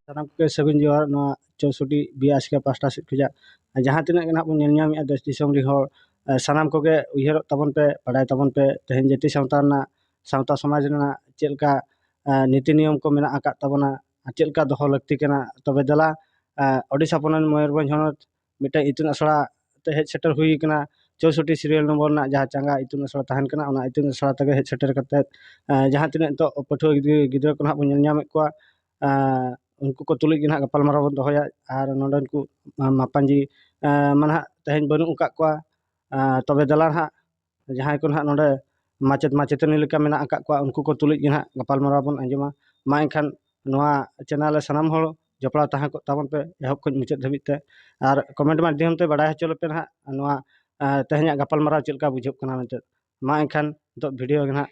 ᱥᱟᱱᱟᱢ ᱠᱚᱜᱮ ᱥᱟᱹᱜᱩᱱ ᱡᱚᱦᱟᱨ ᱱᱚᱣᱟ ᱪᱳᱥᱚᱴᱤ ᱵᱤᱭᱟᱥᱠᱟ ᱯᱟᱥᱴᱟ ᱥᱮᱫ ᱠᱷᱚᱡᱟᱜ ᱡᱟᱦᱟᱸ ᱛᱤᱱᱟᱹᱜ ᱜᱮ ᱱᱟᱦᱟᱜ ᱵᱚᱱ ᱧᱮᱞ ᱧᱟᱢᱮᱫᱼᱟ ᱫᱮᱥ ᱫᱤᱥᱚᱢ ᱨᱮᱱ ᱦᱚᱲ ᱥᱟᱱᱟᱢ ᱠᱚᱜᱮ ᱩᱭᱦᱟᱹᱨᱚᱜ ᱛᱟᱵᱚᱱ ᱯᱮ ᱵᱟᱰᱟᱭ ᱛᱟᱵᱚᱱ ᱯᱮ ᱛᱮᱦᱮᱧ ᱡᱟᱹᱛᱤ ᱥᱟᱶᱛᱟ ᱨᱮᱱᱟᱜ ᱥᱟᱶᱛᱟ ᱥᱚᱢᱟᱡᱽ ᱨᱮᱱᱟᱜ ᱪᱮᱫ ᱞᱮᱠᱟ ᱱᱤᱛᱤ ᱱᱤᱭᱚᱢ ᱠᱚ ᱢᱮᱱᱟᱜ ᱟᱠᱟᱫ ᱛᱟᱵᱚᱱᱟ ᱪᱮᱫ ᱞᱮᱠᱟ ᱫᱚᱦᱚ ᱞᱟᱹᱠᱛᱤ ᱠᱟᱱᱟ ᱛᱚᱵᱮ ᱫᱮᱞᱟ ᱳᱰᱤᱥᱟ ᱯᱚᱱᱚᱛ ᱢᱚᱭᱩᱨᱵᱷᱚᱸᱡᱽ ᱦᱚᱱᱚᱛ ᱢᱤᱫᱴᱮᱱ ᱤᱛᱩᱱ ᱟᱥᱲᱟ ᱛᱮ ᱦᱮᱡ ᱥᱮᱴᱮᱨ ᱦᱩᱭ ᱠᱟᱱᱟ ᱪᱳᱥᱳᱴᱴᱤ ᱥᱤᱨᱤᱭᱟᱞ ᱱᱚᱢᱵᱚᱨ ᱨᱮᱱᱟᱜ ᱡᱟᱦᱟᱸ ᱪᱟᱸᱜᱟ ᱤᱛᱩᱱ ᱟᱥᱲᱟ ᱛᱟᱦᱮᱱ ᱠᱟᱱᱟ ᱚᱱᱟ ᱤᱛᱩᱱ ᱟᱥᱲᱟ ᱛᱮᱜᱮ ᱦᱮᱡ ᱥᱮᱴᱮᱨ ᱠᱟᱛᱮᱫ ᱡᱟᱦᱟᱸ ᱛᱤᱱᱟᱹᱜ ᱱᱤᱛᱳᱜ ᱯᱟᱹᱴᱷᱩᱣᱟᱹ ᱜᱤᱫᱽᱨᱟᱹ ᱠᱚ ᱱᱟᱜ ᱵᱚᱱ ᱧᱮᱞ ᱧᱟᱢᱮᱫ ᱠᱚᱣᱟ ᱩᱱᱠᱩ ᱠᱚ ᱛᱩᱞᱩᱡ ᱜᱮ ᱱᱟᱜ ᱜᱟᱯᱟᱞᱢᱟᱨᱟᱣ ᱵᱚᱱ ᱫᱚᱦᱚᱭᱟ ᱟᱨ ᱱᱚᱰᱮᱱ ᱠᱚ ᱢᱟᱯᱟᱡᱤ ᱢᱟ ᱱᱟᱜ ᱛᱮᱦᱮᱧ ᱵᱟᱹᱱᱩᱜ ᱟᱠᱟᱫ ᱠᱚᱣᱟ ᱛᱚᱵᱮ ᱫᱮᱞᱟ ᱱᱟᱜ ᱡᱟᱦᱟᱸᱭ ᱠᱚ ᱱᱟᱦᱟᱜ ᱱᱚᱰᱮ ᱢᱟᱪᱮᱫ ᱢᱟᱪᱮᱛᱟᱹᱱᱤ ᱞᱮᱠᱟ ᱢᱮᱱᱟᱜ ᱟᱠᱟᱫ ᱠᱚᱣᱟ ᱩᱱᱠᱩ ᱠᱚ ᱛᱩᱞᱩᱡ ᱜᱮ ᱱᱟᱦᱟᱜ ᱜᱟᱯᱟᱞᱢᱟᱨᱟᱣ ᱵᱚᱱ ᱟᱸᱡᱚᱢᱟ ᱢᱟ ᱮᱱᱠᱷᱟᱱ ᱱᱚᱣᱟ ᱪᱮᱱᱮᱞ ᱨᱮ ᱥᱟᱱᱟᱢ ᱦᱚᱲ ᱡᱚᱯᱲᱟᱣ ᱛᱟᱦᱮᱸ ᱠᱚᱜ ᱛᱟᱵᱚᱱ ᱯᱮ ᱮᱦᱚᱵ ᱠᱷᱚᱱ ᱢᱩᱪᱟᱹᱫ ᱫᱷᱟᱹᱵᱤᱡ ᱛᱮ ᱟᱨ ᱠᱚᱢᱮᱱᱴ ᱢᱟᱫᱽᱫᱷᱚᱢ ᱛᱮ ᱵᱟᱲᱟᱭ ᱦᱚᱪᱚ ᱞᱮᱯᱮ ᱱᱟᱦᱟᱜ ᱱᱚᱣᱟ ᱛᱮᱦᱮᱧᱟᱜ ᱜᱟᱯᱟᱞᱢᱟᱨᱟᱣ ᱪᱮᱫ ᱞᱮᱠᱟ ᱵᱩᱡᱷᱟᱹᱜ ᱠᱟᱱᱟ ᱢᱮᱱᱛᱮ ᱢᱟ ᱮᱱᱠᱷᱟᱱ ᱱᱤᱛᱚᱜ ᱵᱷᱤᱰᱤᱭᱳ ᱜᱮ ᱱᱟᱦᱟᱜ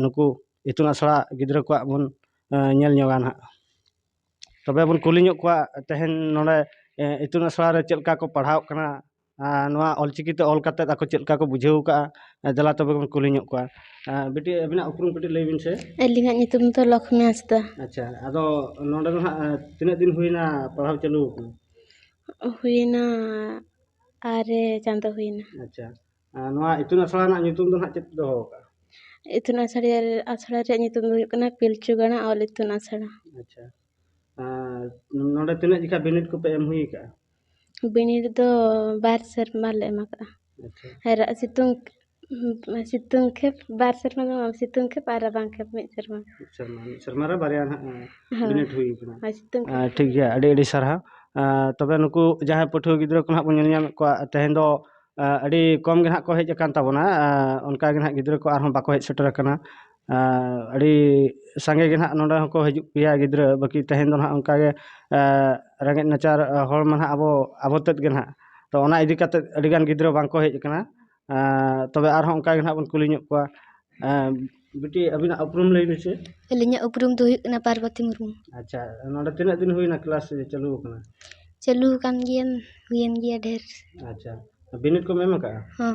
ᱱᱩᱠᱩ ᱤᱛᱩᱱ ᱟᱥᱲᱟ ᱜᱤᱫᱽᱨᱟᱹ ᱠᱚᱣᱟᱜ ᱵᱚᱱ ᱧᱮᱞ ᱧᱚᱜᱟ ᱱᱟᱦᱟᱜ ᱛᱚᱵᱮ ᱵᱚᱱ ᱠᱩᱞᱤ ᱧᱚᱜ ᱠᱚᱣᱟ ᱛᱮᱦᱮᱧ ᱱᱚᱰᱮ ᱤᱛᱩᱱ ᱟᱥᱲᱟ ᱨᱮ ᱪᱮᱫ ᱞᱮᱠᱟ ᱠᱚ ᱯᱟᱲᱦᱟᱣᱚᱜ ᱠᱟᱱᱟ ᱟᱨ ᱱᱚᱣᱟ ᱚᱞ ᱪᱤᱠᱤ ᱛᱮ ᱚᱞ ᱠᱟᱛᱮᱫ ᱟᱠᱚ ᱪᱮᱫ ᱞᱮᱠᱟ ᱠᱚ ᱵᱩᱡᱷᱟᱹᱣ ᱟᱠᱟᱫᱼᱟ ᱫᱮᱞᱟ ᱛᱚᱵᱮ ᱵᱚᱱ ᱠᱩᱞᱤ ᱧᱚᱜ ᱠᱚᱣᱟ ᱵᱤᱴᱤ ᱟᱹᱵᱤᱱᱟᱜ ᱩᱯᱨᱩᱢ ᱠᱟᱹᱴᱤᱡ ᱞᱟᱹᱭ ᱵᱤᱱ ᱥᱮ ᱟᱹᱞᱤᱧᱟᱜ ᱧᱩᱛᱩᱢ ᱫᱚ ᱞᱚᱠᱷᱢᱤ ᱦᱟᱸᱥᱫᱟ ᱟᱪᱪᱷᱟ ᱟᱫᱚ ᱱᱚᱰᱮ ᱫᱚ ᱦᱟᱸᱜ ᱛᱤᱱᱟᱹᱜ ᱫᱤᱱ ᱦᱩᱭᱱᱟ ᱯᱟᱲᱦᱟᱣ ᱪᱟᱹᱞᱩ ᱟᱠᱟᱱᱟ ᱦᱩᱭᱱᱟ ᱟᱨᱮ ᱪᱟᱸᱫᱚ ᱦᱩᱭᱱᱟ ᱟᱪᱪᱷᱟ ᱟᱨ ᱱᱚᱣᱟ ᱤᱛᱩᱱ ᱟᱥᱲᱟ ᱨᱮᱱᱟᱜ ᱧᱩᱛᱩᱢ ᱫᱚ ᱦᱟᱸᱜ ᱪᱮᱫ ᱯᱮ ᱫᱚᱦᱚ ᱟᱠᱟᱫᱼᱟ ᱤᱛᱩᱱ ᱟᱥᱲᱟ ᱟᱥᱲᱟ ᱨᱮᱭᱟᱜ ᱧᱩᱛᱩᱢ ᱫᱚ ᱦᱩᱭᱩᱜ ᱠᱟᱱᱟ ᱯᱤᱞᱪᱩ ᱜᱟᱲᱟ ᱚᱞ ᱤᱛᱩᱱ ᱟᱥᱲᱟ ᱟᱪᱪᱷᱟ ᱟᱨ ᱱᱚᱰᱮ ᱛᱤᱱᱟᱹᱜ ᱡᱚᱠᱷᱟᱡ ᱵᱤᱱᱤᱰ ᱠᱚᱯᱮ ᱮᱢ ᱦᱩᱭ ᱟᱠᱟᱫᱼᱟ ᱵᱤᱱᱤᱰ ᱫᱚ ᱵᱟᱨ ᱥᱮᱨᱢᱟ ᱞᱮ ᱮᱢ ᱠᱟᱜᱼᱟ ᱟᱨ ᱥᱤᱛᱩᱝ ᱥᱤᱛᱩᱝ ᱠᱷᱮᱯ ᱵᱟᱨ ᱥᱮᱨᱢᱟ ᱫᱚ ᱵᱟᱝ ᱥᱤᱛᱩᱝ ᱠᱷᱮᱯ ᱟᱨ ᱨᱟᱵᱟᱝ ᱠᱷᱮᱯ ᱢᱤᱫ ᱥᱮᱨᱢᱟ ᱢᱤᱫ ᱥᱮᱨᱢᱟ ᱨᱮ ᱵᱟᱨᱭᱟ ᱦᱟᱸᱜ ᱵᱤᱱᱤᱰ ᱦᱩᱭ ᱠᱟᱱᱟ ᱦᱳᱭ ᱥᱤᱛᱩᱝ ᱠᱷᱮᱯ ᱟᱨ ᱴᱷᱤᱠ ᱜᱮᱭᱟ ᱟᱹᱰᱤ ᱟᱹᱰᱤ ᱥᱟᱨᱦᱟᱣ ᱟᱨ ᱛᱚᱵᱮ ᱱᱩᱠᱩ ᱡᱟᱦᱟᱸᱭ ᱯᱟᱹᱴᱷᱩᱣᱟᱹ ᱜᱤᱫᱽᱨᱟᱹ ᱠᱚ ᱦᱟᱸᱜ ᱵᱚᱱ ᱧᱮᱞ ᱧᱟᱢᱮᱫ ᱠᱚᱣᱟ ᱛᱮᱦᱮᱧ ᱫᱚ ᱟᱹᱰᱤ ᱠᱚᱢ ᱜᱮ ᱦᱟᱸᱜ ᱠᱚ ᱦᱮᱡ ᱟᱠᱟᱱ ᱛᱟᱵᱚᱱᱟ ᱚᱱᱠᱟ ᱜᱮ ᱦᱟᱸᱜ ᱜᱤᱫᱽᱨᱟᱹ ᱠᱚ ᱟᱨᱦᱚᱸ ᱵᱟᱠᱚ ᱦᱮᱡ ᱥᱮᱴᱮᱨ ᱟᱠᱟᱱᱟ ᱟᱹᱰᱤ ᱥᱟᱸᱜᱮ ᱜᱮ ᱱᱟᱦᱟᱜ ᱱᱚᱰᱮ ᱦᱚᱸᱠᱚ ᱦᱤᱡᱩᱜ ᱜᱮᱭᱟ ᱜᱤᱫᱽᱨᱟᱹ ᱵᱟᱹᱠᱤ ᱛᱮᱦᱮᱧ ᱫᱚ ᱱᱟᱦᱟᱜ ᱚᱱᱠᱟ ᱜᱮ ᱨᱮᱸᱜᱮᱡ ᱱᱟᱪᱟᱨ ᱦᱚᱲ ᱢᱟ ᱱᱟᱦᱟᱜ ᱟᱵᱚ ᱟᱵᱚ ᱛᱮᱫ ᱜᱮ ᱱᱟᱦᱟᱜ ᱛᱚ ᱚᱱᱟ ᱤᱫᱤ ᱠᱟᱛᱮᱫ ᱟᱹᱰᱤ ᱜᱟᱱ ᱜᱤᱫᱽᱨᱟᱹ ᱵᱟᱝ ᱠᱚ ᱦᱮᱡ ᱠᱟᱱᱟ ᱛᱚᱵᱮ ᱟᱨᱦᱚᱸ ᱚᱱᱠᱟ ᱜᱮ ᱱᱟᱦᱟᱜ ᱵᱚᱱ ᱠᱩᱞᱤ ᱧᱚᱜ ᱠᱚᱣᱟ ᱵᱤᱴᱤ ᱟᱹᱵᱤᱱᱟᱜ ᱩᱯᱨᱩᱢ ᱞᱟᱹᱭ ᱵᱤᱱ ᱥᱮ ᱟᱹᱞᱤᱧᱟᱜ ᱩᱯᱨᱩᱢ ᱫᱚ ᱦᱩᱭᱩᱜ ᱠᱟᱱᱟ ᱯᱟᱨᱵᱚᱛᱤ ᱢᱩᱨᱢᱩ ᱟᱪᱪᱷᱟ ᱱᱚᱰᱮ ᱛᱤᱱᱟᱹᱜ ᱫᱤᱱ ᱦᱩᱭᱱᱟ ᱠᱞᱟᱥ ᱪᱟᱹᱞᱩ ᱟᱠᱟᱱᱟ ᱪᱟᱹᱞᱩ ᱟᱠᱟᱱ ᱜᱮᱭᱟ ᱦᱩᱭᱮᱱ ᱜᱮᱭᱟ ᱰᱷᱮᱨ ᱟᱪᱪᱷᱟ ᱵᱤᱱᱤᱰ ᱠᱚᱢ ᱮᱢ ᱟᱠᱟᱫᱼᱟ ᱦᱚᱸ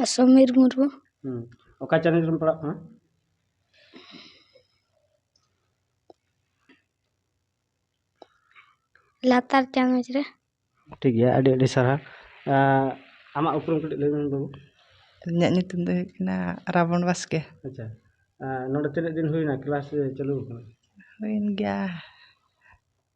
ᱟᱨ ᱥᱚᱢᱤᱨ ᱢᱩᱨᱢᱩ ᱦᱩᱸ ᱚᱠᱟ ᱪᱟᱱᱟᱪ ᱨᱮᱢ ᱯᱟᱲᱦᱟᱜ ᱠᱟᱱᱟ ᱞᱟᱛᱟᱨ ᱪᱟᱱᱟᱪ ᱨᱮ ᱴᱷᱤᱠ ᱜᱮᱭᱟ ᱟᱹᱰᱤ ᱟᱹᱰᱤ ᱥᱟᱨᱦᱟᱣ ᱟᱸ, ᱟᱢᱟᱜ ᱩᱯᱨᱩᱢ ᱠᱟᱹᱴᱤᱡ ᱞᱟᱹᱭ ᱢᱮ ᱵᱟᱹᱵᱩ ᱤᱧᱟᱹᱜ ᱧᱩᱛᱩᱢ ᱫᱚ ᱦᱩᱭᱩᱜ ᱠᱟᱱᱟ ᱨᱟᱵᱚᱱ ᱵᱟᱥᱠᱮ ᱟᱪᱪᱷᱟ ᱟᱸ, ᱱᱚᱰᱮ ᱛᱤᱱᱟᱹᱜ ᱫᱤᱱ ᱦᱩᱭᱱᱟ ᱠᱞᱟᱥ ᱪᱟᱹᱞᱩ ᱟᱠᱟᱱᱟ ᱦᱩᱭᱮᱱ ᱜᱮᱭᱟ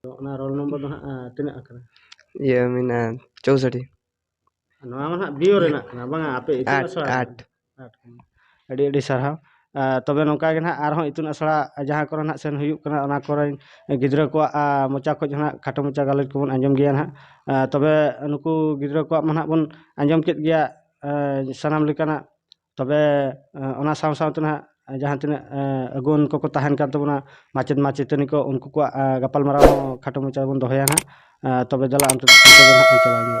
ᱛᱚ ᱚᱱᱟ ᱨᱳᱞ ᱱᱚᱢᱵᱚᱨ ᱫᱚ ᱦᱟᱸᱜ ᱛᱤᱱᱟᱹᱜ ᱟᱠᱟᱱᱟ ᱤᱭᱟᱹ ᱢᱮᱱᱟᱜᱼᱟ ᱪᱳᱥᱚᱴᱴᱤ ᱱᱚᱣᱟ ᱢᱟ ᱦᱟᱸᱜ ᱵᱤᱭᱳ ᱨᱮᱱᱟᱜ ᱠᱟᱱᱟ ᱵᱟᱝᱟ ᱟᱯᱮ ᱤᱛᱩᱱ ᱟᱴ ᱟᱥᱲᱟ ᱟᱴ ᱟᱴ ᱠᱟᱱᱟ ᱟᱹᱰᱤ ᱟᱹᱰᱤ ᱥᱟᱨᱦᱟᱣ ᱟᱨ ᱛᱚᱵᱮ ᱱᱚᱝᱠᱟ ᱜᱮ ᱱᱟᱦᱟᱜ ᱟᱨᱦᱚᱸ ᱤᱛᱩᱱ ᱟᱥᱲᱟ ᱡᱟᱦᱟᱸ ᱠᱚᱨᱮ ᱱᱟᱦᱟᱜ ᱥᱮᱱ ᱦᱩᱭᱩᱜ ᱠᱟᱱᱟ ᱚᱱᱟ ᱠᱚᱨᱮᱱ ᱜᱤᱫᱽᱨᱟᱹ ᱠᱚᱣᱟᱜ ᱟᱸ, ᱢᱚᱪᱟ ᱠᱷᱚᱡ ᱦᱚᱸ ᱱᱟᱦᱟᱜ ᱠᱷᱟᱴᱚ ᱢᱚᱪᱟ ᱜᱟᱞᱚᱪ ᱠᱚᱵᱚᱱ ᱟᱸᱡᱚᱢ ᱜᱮᱭᱟ ᱱᱟᱦᱟᱜ ᱟᱸ, ᱛᱚᱵᱮ ᱱᱩᱠᱩ ᱜᱤᱫᱽᱨᱟᱹ ᱠᱚᱣᱟᱜ ᱢᱟ ᱱᱟᱦᱟᱜ ᱵᱚᱱ ᱟᱸᱡᱚᱢ ᱠᱮᱫ ᱜᱮᱭᱟ ᱟᱸ, ᱥᱟᱱᱟᱢ ᱞᱮᱠᱟᱱᱟᱜ ᱛᱚᱵᱮ ᱚᱱᱟ ᱥᱟᱶ ᱥᱟᱶᱛᱮ ᱱᱟᱦᱟᱜ ᱡᱟᱦᱟᱸ ᱛᱤᱱᱟᱹᱜ ᱟᱹᱜᱩᱣᱟᱹᱱ ᱠᱚᱠᱚ ᱛᱟᱦᱮᱱ ᱠᱟᱱ ᱛᱟᱵᱚᱱᱟ ᱢᱟᱪᱮᱫ ᱢᱟᱪᱮᱛᱟᱹᱱᱤ ᱠᱚ ᱩᱱᱠᱩ ᱠᱚᱣᱟᱜ ᱜᱟᱯᱟᱞ ᱢᱟᱨᱟᱣ ᱦᱚᱸ ᱠᱷᱟᱴᱚ ᱢᱟᱪᱷᱟ ᱛᱮᱵᱚᱱ ᱫᱚᱦᱚᱭᱟ ᱱᱟᱦᱟᱜ ᱛᱚᱵᱮ ᱫᱮᱞᱟ ᱚᱱᱛᱮ ᱫᱚ ᱪᱟᱞᱟᱣ ᱧᱚᱜᱚᱜᱼᱟ